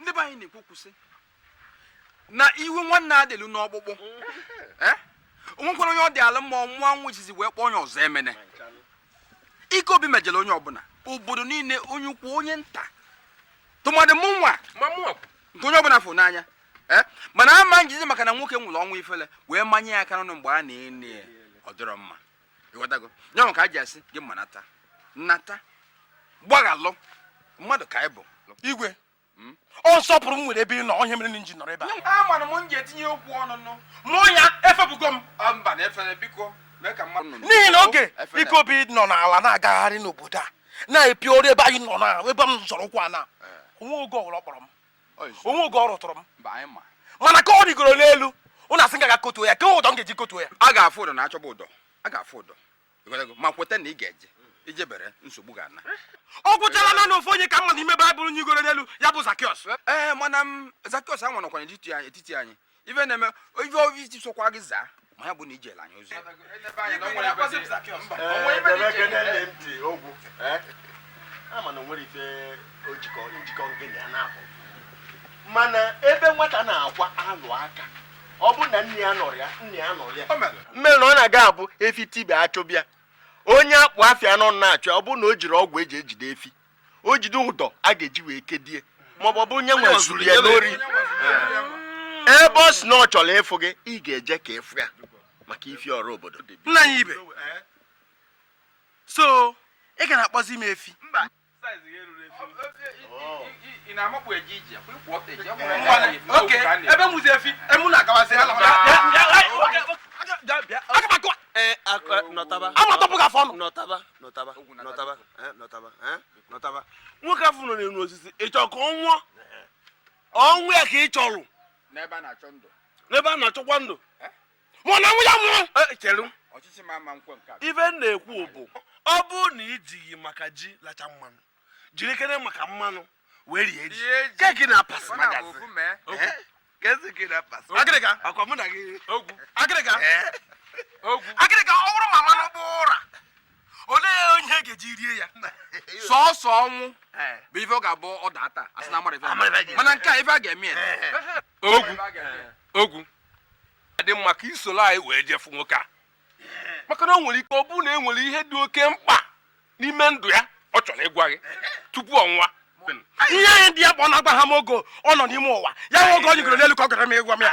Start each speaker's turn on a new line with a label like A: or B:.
A: ndị be anyị na-ekwu okwu sị na iwe nwanne adị elu n'ọkpụkpụ eh? o nwekwara onye ọ dị ala mma ọ mụọ nwa jizi wee kpọọ onye ọzọ emene ike obi mejọrọ onye ọbụla obodo niile onye ukwu onye nta tụmadị mụ nwa nke onye ọbụla fụ n'anya eh? mana ama m ejizi maka na nwoke nwụrụ ọnwụ ifele wee manye ya aka n'ọnụ mgbe a na-eni ya ọ dịrọ mma ịghọtago nya bụ ka e ji asị gị ma nata nata gbaghalụ mmadụ ka anyị bụ igwe hmm? ọ nsọpụrụ m nwere ebe ị nọ ọ ihe mere na m ji nọrọ ebe a amara m nji etinye okwu ọnụ nụ mụ ya efebugo m mba na efere biko n'ihi na oge ike obi nọ n'ala na-agagharị n'obodo a na-epi ọrụ ebe anyị nọ na ebe m zọrọ ụkwụ n'ana eh. o nwe oge ọbụla ọ kpọrọ m o nwe oge ọ rụtụrụ m mana ka ọ rịgoro n'elu unu asị m gaa kotuo ya kee ụdọ m ga-eji kotuo ya a ga-afụ ụdọ na achọba ụdọ a ga-afụ ụdọ ma kweta na ị ga-eje i jebere nsogbu ga-ana ọ gwụchala na na ofu onye ka m ma n'ime baịbụl nyigoro n'elu ya bụ zakiọs ee mana m zakiọs anwa nọkwa n'etiti anyị ife na-eme ife obi isi sokwa gị zaa ma ya bụ na i jela anyị ozi a ma na o nwere ife ojikọ njikọ nke na ya na-abụ mana ebe nwata na-akwa alụ aka ọ bụ na nne ya anọrọ ya nna ya nọrọ ya mere na ọ na-aga abụ efi tibe a chụba ya onye akpụ afịa nọ na-achụ ya ọ bụ na o jiri ọgwụ e ji ejide efi o jide ụdọ a ga-eji wee kedie maọbụ ọ bụrụ onye nwe zuru ya n'ori ebe ọ sị na ọ chọrọ ịfụ gị ị ga-eje ka ị fụ ya maka ifi ọrụ obodo nna anyị igwe so ị ga na-akpọzi m efi okay ebe m wụzi efi emu na-agawazi ala m. amatọpụ gị afọ ọnụ nọtaba nọtaba nọtaba Eh, nọtaba eh, nọtaba nwoke afọ nọ n'elu osisi ị chọrọ ka ọ nwụọ ọnwụ ya ka ị chọrọ n'ebe a na-achọ ndụ n'ebe a na-achọkwa ndụ Eh? ma ọ na nwụ ya nwụrụ Eh, chere ọchịchị ma ama m ekwe nke a ife m na-ekwu bụ ọ bụrụ na i jighị maka ji lacha mmanụ jirikene maka mmanụ wee rie ji Rie ji. keki na pas Ọ na-abụ magazin ofu mee. Eh? agịrịga ọ bụrụ ma mmanụ gbaa ụra olee onye ga-eji rie ya sọọsọ ọnwụ bụ ife ọ ga-abụ ọ data a sị na a mara ife mana nke a ife a ga-eme ya ogwu ogwu adị mma ka i soro anyị wee je fụ nwoke a maka na o nwere ike ọ bụrụ na e nwere ihe dị oke mkpa n'ime ndụ ya ọ chọrọ ịgwa gị tupu ọ nwụọ ihe anyị dị ya mkpa ọ na-agwaghị m oge ọ nọ n'ime ụwa ya nwe oge o nyigoro n'elu ka ọ gara m ịgwa m ya